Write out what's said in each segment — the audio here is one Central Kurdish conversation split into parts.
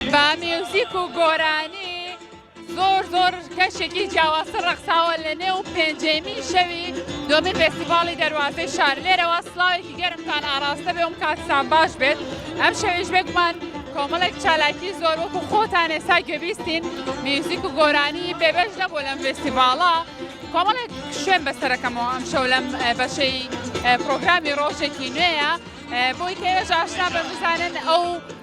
بە میوزیک و گۆرانی زۆر زۆر کەشێکی جیاوازتر ڕەخساوە لە نێو پێنجێمی شەوی دۆمی فێستیڤاڵی دەروازەی شار لێرەوە سلاوێکی گەرمتان ئاراستە بێ وم کاتسان باش بێت ئەم شەوێش بێکمان کۆمەڵێک چالاکی زۆر وەکو خۆتان ئێستا گوێبیستین میوزیک و گۆرانی بێبەش نەبوو لەم فێستیڤاڵە کۆمەڵێک شوێن بەسەرەکەمەوە ئەم شەو لەم بەشەی پرۆگرامی ڕۆژێکی نوێیە بۆی کەێژ ئاشنا بە بزانن ئەو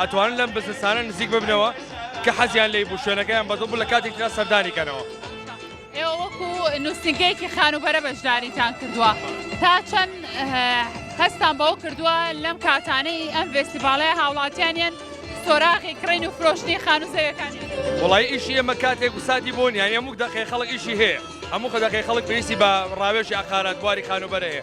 ئەتوانن لەم بزنسانە نزیک ببنەوە کە حەزیان لی بوو شوێنەکەیان بەزۆ بوو لە کاتێک ترا سەردانی کەنەوە. ئێوە وەکو نووسنگەیەکی خانوبەرە بەشداریتان کردووە تا چەند هەستان بەوە کردووە لەم کاتانەی ئەم ڤێستیڤالەیە هاوڵاتیانیان سۆراغی کڕین و فرۆشتنی خانو زەوەکان وڵی ئیشی ئەمە کاتێک و ساتی بۆ نیان ئەموک دەقی خەڵک ئیشی هەیە هەموو خەدەقی خەڵک پێویستی بە ڕاوێژی عقارات بواری خانوبەرەیە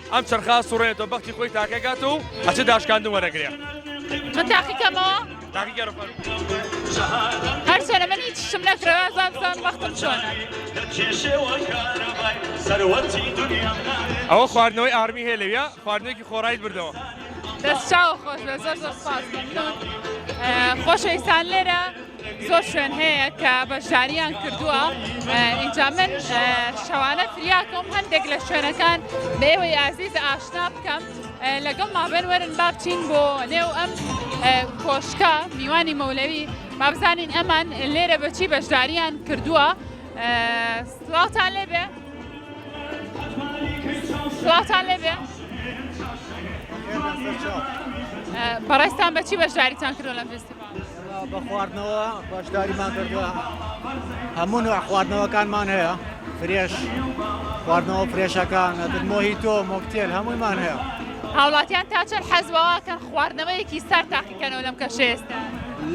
ئەم چەرخا سوڕێتەوە بەختی خۆی تاکەکات و ئەچە داشکاندن وەرەگرێ من تاقیکەمەوە هەر سەرە من هیچ شم نەکرەوە زان زان وەختم چۆنە ئەوە خواردنەوەی ئارمی هەیە لەویا خواردنێکی خۆڕایت بردەوە دەست چاو خۆش بە زۆر زۆر سپاس خۆشەویستان لێرە زۆر شوێن هەیە کە بەشداریان کردووە ئینجا من شەوانە فریاکەم هەندێک لە شوێنەکان بێوەی ئازیز ئاشنا بکەم لەگەڵ مابێن وەرن بابچین بۆ نێو ئەم کۆشکە میوانی مەولەوی بابزانین ئەمان لێرە بەچی بەشداریان کردووە سڵاوتان لێبێ سڵاوتان لێبێ بەڕێستان بەچی بەشداریتان کردو لەم فستیڤال بە خواردنەوە بەشداریمان کردووە هەموو نوع خواردنەوەکانمان هەیە فرێش خواردنەوە فرێشەکان ئەتر مۆهیتۆ مۆکتێل هەموویمان هەیە هاوڵاتیان تا چەند حەزبەوەکەن خواردنەوەیەکی سەر تاقیکەنەوە لەم کەشە ئێستا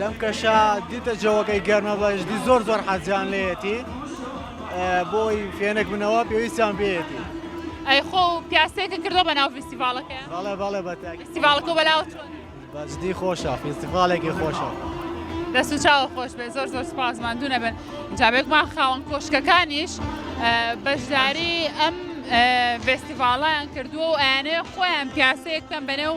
لەم کەشە دیتە جەوەکەی گەرمە بەشدی زۆر زۆر حەزیان لێتی بۆی فێنک بنەوە پێویستیان پێێتی ئەی خۆ پیاسێکە کردو بە ناو فیستیڤالەکە بەڵێ بەڵێ بە فیستیڤالەکە بەلاوە چۆن بەجدی خۆشە فیستیڤاڵێکی خۆشە. دەست و چاوە خۆش بێ زۆر زۆر سپاس ماندوو نەبن جاابێکمان خاوەن کۆشکەکانیش بەشداری ئەم ڤستیڤاڵیان کردووە و ئەیانەیە خۆیان پیاسەیە بکەم بەنێو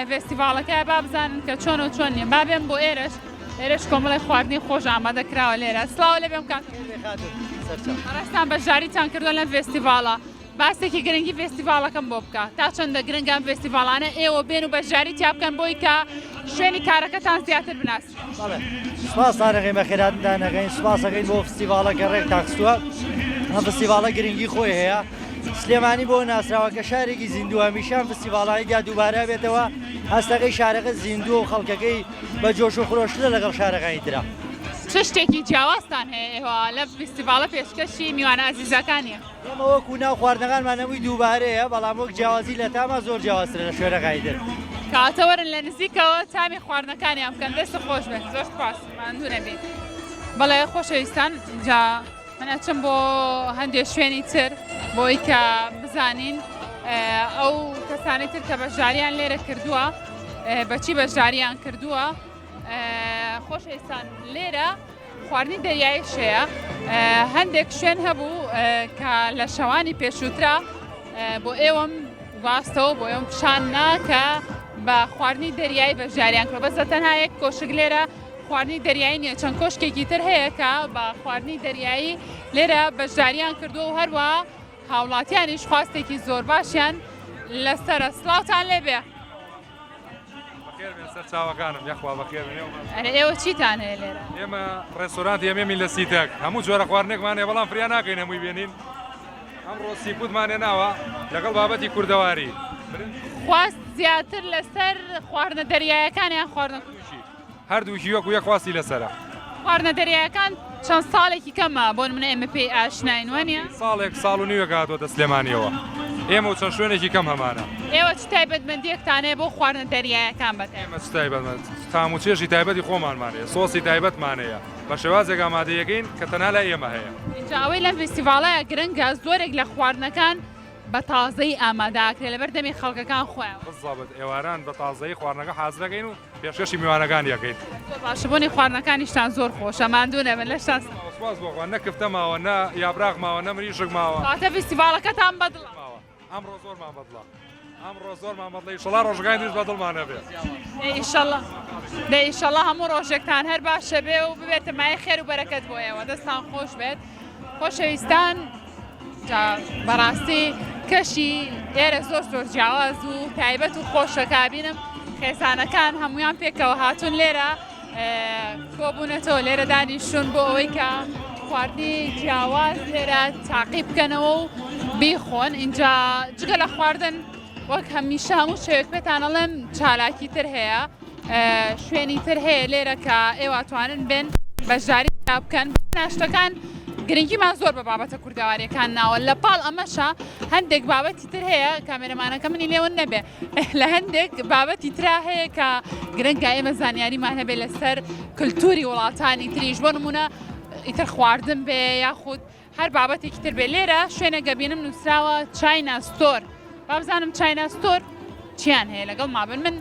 ڤستیڤاڵەکە با بزانن کە چۆن و چۆن نیە بابێن بۆ ئێرش ئێرش کۆمەڵی خواردنی خۆش ئامادە کراوە لێرە سلااو لە بێم کاتستان بەشداریتان کردو لەم ڤستیڤاڵە باسێکی گرنگی فێستیڤاڵەکەم بۆ بکە، تا چەندە گرنگە ئەم فێستیڤاڵانە ئێوە بێن و بەشداری تیا بکەن بۆی کە شوێنی کارەکەتان زیاتر بناسرێ؟ سوپاستان ئەکەین بە خێراتنتان ئەکەین، سوپاس ئەکەین بۆ فستیڤاڵە کە ڕێکتان خستووە، ئەم فستیڤاڵە گرنگی خۆی هەیە، سلێمانی بۆ ناسراوە کە شارێکی زیندووە، هەمیشە ئەم فستیڤاڵانەی تیا دووبارە ئەبێتەوە، هەستەکەی شارەکە زیندووە و خەڵکەکەی بە جۆش و خرۆشترە لەگەڵ شارەکانی ترا. چ شتێکی جیاوازتان هەیە ئێوە لەم فستیڤاڵە پێشکەشی میوانە ئازیزەکانیە؟ ئێمە وەکو ناو خواردنەکانمان نمووی دووبارەیە بەڵام وەک جیاوازی لە تاما زۆر جیاوازترە لە شوێنەکانی تر. کەواتە وەرن لە نزیکەوە تامی خواردنەکانیان بکەن دەستت خۆش بێت زۆر سوپاس ماندوو نەبی بەڵێ خۆشەویستان جا من ئەچم بۆ هەندێک شوێنی تر بۆی کە بزانین ئەو کەسانی تر کە بەشداریان لێرە کردووە بەچی بەشداریان کردووە خۆشەویستان لێرە خواردنی دەریایی شێە هەندێک شوێن هەبوو کە لە شەوانی پێشووترا بۆ ئێوەم واستەوە بۆ ئێوەم پیشان ناکە بە خواردنی دەریایی بەشداریان کرد بەسە تەنها یەک کۆشک لێرە خواردنی دەریایی نیە چەند کۆشکێکی تر هەیە کە بە خواردنی دەریایی لێرە بەشداریان کردو و هەروە هاوڵاتیانیش خواستێکی زۆر باشیان لەسرە سلااوان لێبێ. ئێوە چیتان هەیە لێرە ئێمە ڕێستورانت ئێمەمی لە سیتەک هەموو جۆرە خواردنێکمانێ بەڵام فریا ناکەین هەمووی بێنین ئەمڕۆ سیپوتمانێ ناوە لەگەڵ بابەتی کوردەواری خواست زیاتر لەسەر خواردنە دەریایەکانیان خواردن کوشی هەردووکی وەکو یەک خواستی لەسەرە. خواردنە دەریایەکان چەند ساڵێکی کەمە بۆ نمونە ئێمە پێی ئاشناین وانە؟ ساڵێک ساڵ و نیوێک هاتووەتە سلێمانیەوە ئێمە و چەند شوێنێکی کەم هەمانە. ئێوە چ تایبەتمەندیەکتانەیە بۆ خواردنە دەریایەکان بەتایبەت؟ ئێمە چ تایبەتمەند تام و چێژی تایبەتی خۆمانمان هەیە سۆسی تایبەتمان هەیە بە شێوازێک ئامادەیەکەین کە تەنها لای ئێمە هەیە. ئینجا ئەوەی لەم فیستیڤاڵەیا گرنگە زۆرێک لە خواردنەکان بە تازەیی ئامادە ئەکرێ لەبەر دەمی خەڵکەکان خۆیان. بززابت ئێواران بە تازەیی خواردنەکە حازرەکەین و پێشکەشی میوانەکانی ئەکەیت. زۆر باشە بۆنی خواردنەکانیشتان زۆر خۆشە ماندوو نەبن لەشتان سا. ماوە سوپاس بۆ خوا نە کفتە ماوە نە یابراغ ماوە نە مریشک ماوە. کەواتە فیستیڤاڵەکەتان بەدڵە. ماوە ئەمڕۆ زۆرمان بەدڵە ئەمڕۆ زۆرمان بەدڵە ئیشەڵا ڕۆژەکانی تریش بەدڵمان نەبێ. دەی ئیشەڵا دەی ئیشەڵا هەموو ڕۆژێکتان هەر باشە بێ و ببێتە مایەی خێر و بەرەکەت بۆ ئێوە دەستان خۆش بێت خۆشەویستان. جا بەڕاستی کەشی ئێرە زۆر زۆر جیاواز و تایبەت و خۆشە کابینم خێزانەکان هەمویان پێکەوە هاتوون لێرە کۆبوونەتەوە لێرە دانیشتون بۆ ئەوەی کە خواردنی جیاواز لێرە تاقی بکەنەوە و بیخۆن اینجا جگە لە خواردن وەک هەمیشە هەموو شوێک پێتانەڵێم چالاکی تر هەیە. شوێنی تر هەیە لێرە کە ئێوە توانن بێن بەشداری دا بکەن ناشتەکان گرنگیمان زۆر بە بابەتە کوردەواریەکان ناوە لە پاڵ ئەمەشە هەندێک بابەتی تر هەیە کامێرەمانەکە منی لێوە نەبێ لە هەندێک بابەتی ترا هەیە کە گرنگە ئێمە زانیاریمان هەبێ لەسەر کللتوری وڵاتانی تریش بۆ نمونە ئیتر خواردن بێ یاخود هەر بابەتێکی تر بێ لێرە شوێنە گەبینم نووسراوە چاینا ستۆر بابزانم چاینا ستۆر چیان هەیە لەگەڵ مابن من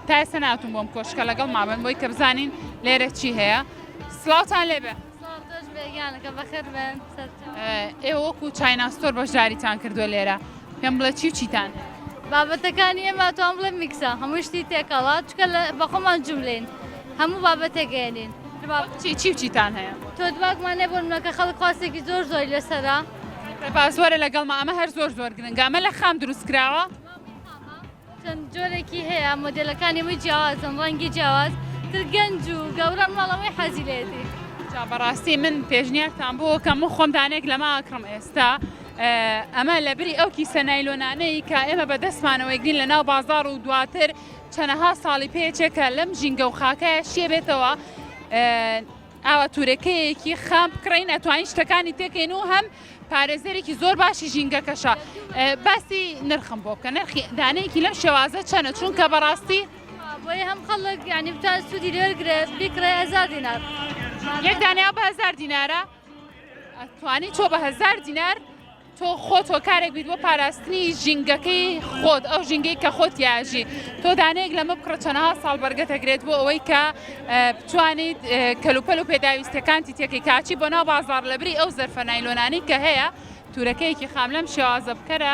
تایسە ناتون بۆم کۆشکە لەگەڵ مابن بۆی کە بزانین لێرە چی هەیە سلااوان لێبێ ئێ وەکو چاینا ستۆر بەشداریتان کردووە لێرە پێم بڵێ چی و چیتان بابەتەکانی ئێمە توان بڵێ میکسە هەموو شتی تێکەڵات چکە لە بەخۆمان جوولین هەموو بابەتێک ئەیەنین. دباغ چی چی و چیتان هەیە؟ تۆ دباغمان نیە بۆ نمونە کە خەڵک خواستێکی زۆر زۆری لەسەرە. سەرباز وەرە لەگەڵما ئەمە هەر زۆر زۆر گرنگە ئەمە لە خام دروست کراوە. چەند جۆرێکی هەیە مۆدێلەکانی هەمووی جیاوازن ڕەنگی جیاواز تر گەنج و گەورە مناڵ هەمووی حەزی لێتی. جا بەڕاستی من پێشنیارتان بۆ ئەکەم من خۆم دانەیەک لەمە ئەکڕم ئێستا ئەمە لەبری ئەو کیسە نایلۆنانەی کە ئێمە بەدەستمانەوە ئەیگرین لەناو بازاڕ و دواتر چەنەها ساڵی پێچێ کە لەم ژینگە و خاکایە شیێ بێتەوە ئاوا تورەکەیەکی خام بکڕین ئەتوانین شتەکانی تێکەین و هەم پارێزەرێکی زۆر باشی ژینگەکەشە باسی نرخم بۆ بکە نرخی دانەیەکی لەم شێوازە چەنە چونکە بەڕاستی بۆی هەم خەڵک ینی بتا سوودی لێرگرێت بیکڕێ هزار دینار یەک دانیا بە هزار دینارە توانی تۆ بە هەزار دینار تۆ خۆت هۆکارێک بیت بۆ پاراستنی ژینگەکەی خۆت ئەو ژینگەی کە خۆت یاژی تۆ دانەیەک لەمە بکڕە چۆنەها ساڵ بەرگەتەگرێت بۆ ئەوەی کە بتوانیت کەلوپەل و پێداویستەکانتی تێکی کاچی بۆ ناو بازار لەبری ئەو زەرفە نایلۆنانی کە هەیە تورەکەیەکی خام لەم شێوازە بکەرە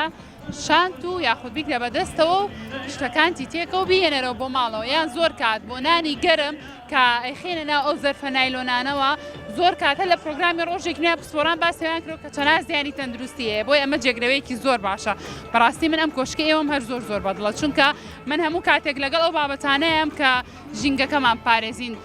شانت و یاخود بیگرە بە دەستەوە و شتەکانتی تێکە و بیهێنەرەوە بۆ ماڵەوە یان زۆر کات بۆ نانی گەرم کە ئەیخەینە ناو ئەو زەرفە نایلۆنانەوە زۆر کات هەر لە پرۆگرامی ڕۆژێک نوێ پسپۆڕان باسی ئەویان کرد کە چەناز زیانی تەندروستی هەیە بۆیە ئەمە جێگرەوەیەکی زۆر باشە بەڕاستی من ئەم کۆشکە ئێوەم هەر زۆر زۆر بەدڵە چونکە من هەموو کاتێک لەگەڵ ئەو بابەتانەیەم کە ژینگەکەمان بپارێزین.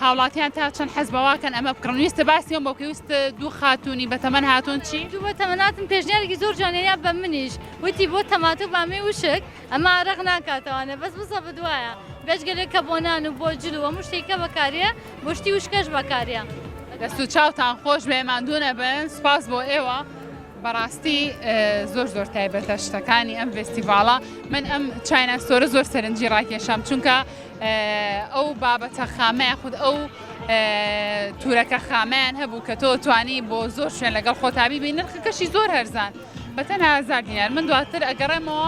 هاوڵاتیان تا چەند حەز بەواکەن ئەمە بکڕن ویستە باسی ئەوم بۆ بکەی وست دوو خاتوونی بە تەمەن هاتوون چی؟ دوو بە تەمەناتن پێشنیارێکی زۆر جوانە یا بە منیش وتی بۆ تەماتە و بامێ وشک ئەمە ئارەق ناکاتەوانێ بەس بزە بدوایە بێجگەلێ کە بۆ نان و بۆ جل و هەموو شتێکە بەکاریە بۆ شتی وشکەش بەکاریە. دەست و چاوتان خۆش بێ ماندوو نەبن سوپاس بۆ ئێوە. بەڕاستی زۆر زۆر تایبەتە شتەکانی ئەم ڤستیڤاڵە من ئەم چاینا ستۆرە زۆر سەرنجی ڕاکێشام چونکە ئەو بابەتە خامەیە خود ئەو تورەکە خامیان هەبوو کە تۆ توانی بۆ زۆر شوێن لەگەڵ خۆتابی بین نرخەکەشی زۆر هەرزان بەتەنها زار دینار من دواتر ئەگەڕێمەوە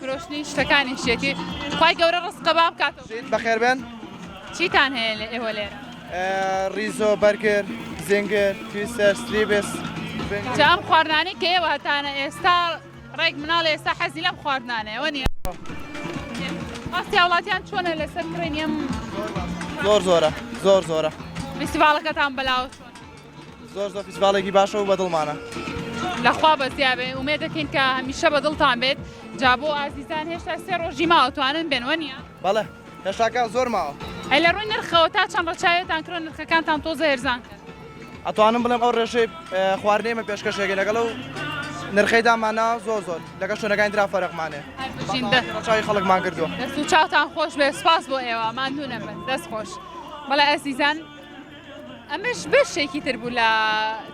فرۆشتنی شتەکانی شێتی خی گەورە ڕستقە با بکات بەخێربێن چیتان هەیە لە ئێوە لێرە ڕیزۆ بەرگر زنگەر تویسەر ستریبس جام خواردانی کە ئێوە هەتانە ئێستا ڕێک مناڵ ئێستا حەزی لەم خواردنانەوە نیە ئاستی وڵاتیان چۆنە لەسەر کڕێنیم زۆر زۆرە زۆر زۆرە فیستیڤالەکەتان بەلاوە زۆر زۆر فیستیڤاڵێکی باشە و بەدڵمانە. لەخوا بەزیابێ ئومێد دەکەین کە هەمیشە بە دڵتان بێت جا بۆ ئازیزان هێشتا سێ ڕۆژی ماوە توانن بێن وە نیە بەڵێ هێشتاکە زۆر ماوە ئەی لە ڕووی نرخەوە تا چەند ڕەچاوێتان کرۆ نرخەکانتان تۆزە هێرزان کرد ئەتوانم بڵێم ئەو ڕێژەی خواردنەی من پێشکەشێکی لەگەڵ و نرخەی دامانە زۆر زۆر لەگە شوێنەکانی درا فەرقمانێ چاوی خەڵکمان کردووە دەست و چاوتان خۆش بێ سپاس بۆ ئێوە ماندوو نەبن دەست خۆش بەڵێ ئەسیزان ئەمەش بەشێکی تر بوو لە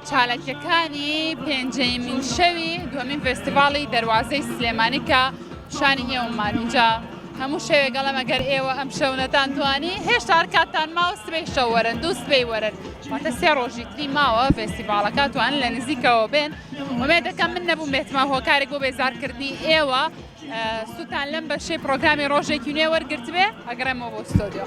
چالاکیەکانی پێنجەیمین شەوی دووەمین فستیڤاڵی دەواازەی سلێمانی کە پیشانی ئێوەمان اینجا هەموو شەوێک گەڵم ئەگەر ئێوە ئەم شەونەتان توانی هێشتا کاتان ماوە سبەی شەوەرن دوو سبەی وەرن واتە سێ ڕۆژی تری ماوە فێستیڤالەکە توان لە نزیکەوە بێن ومێ دەکەم من نەبوو بێتمە هۆکارێک بۆ بێزارکردنی ئێوە سووتان لەم بەشەی پرۆگرامی ڕۆژێکی نوێ وەرگرتبێ ئەگەڕێمەوە بۆ ستۆدیۆ.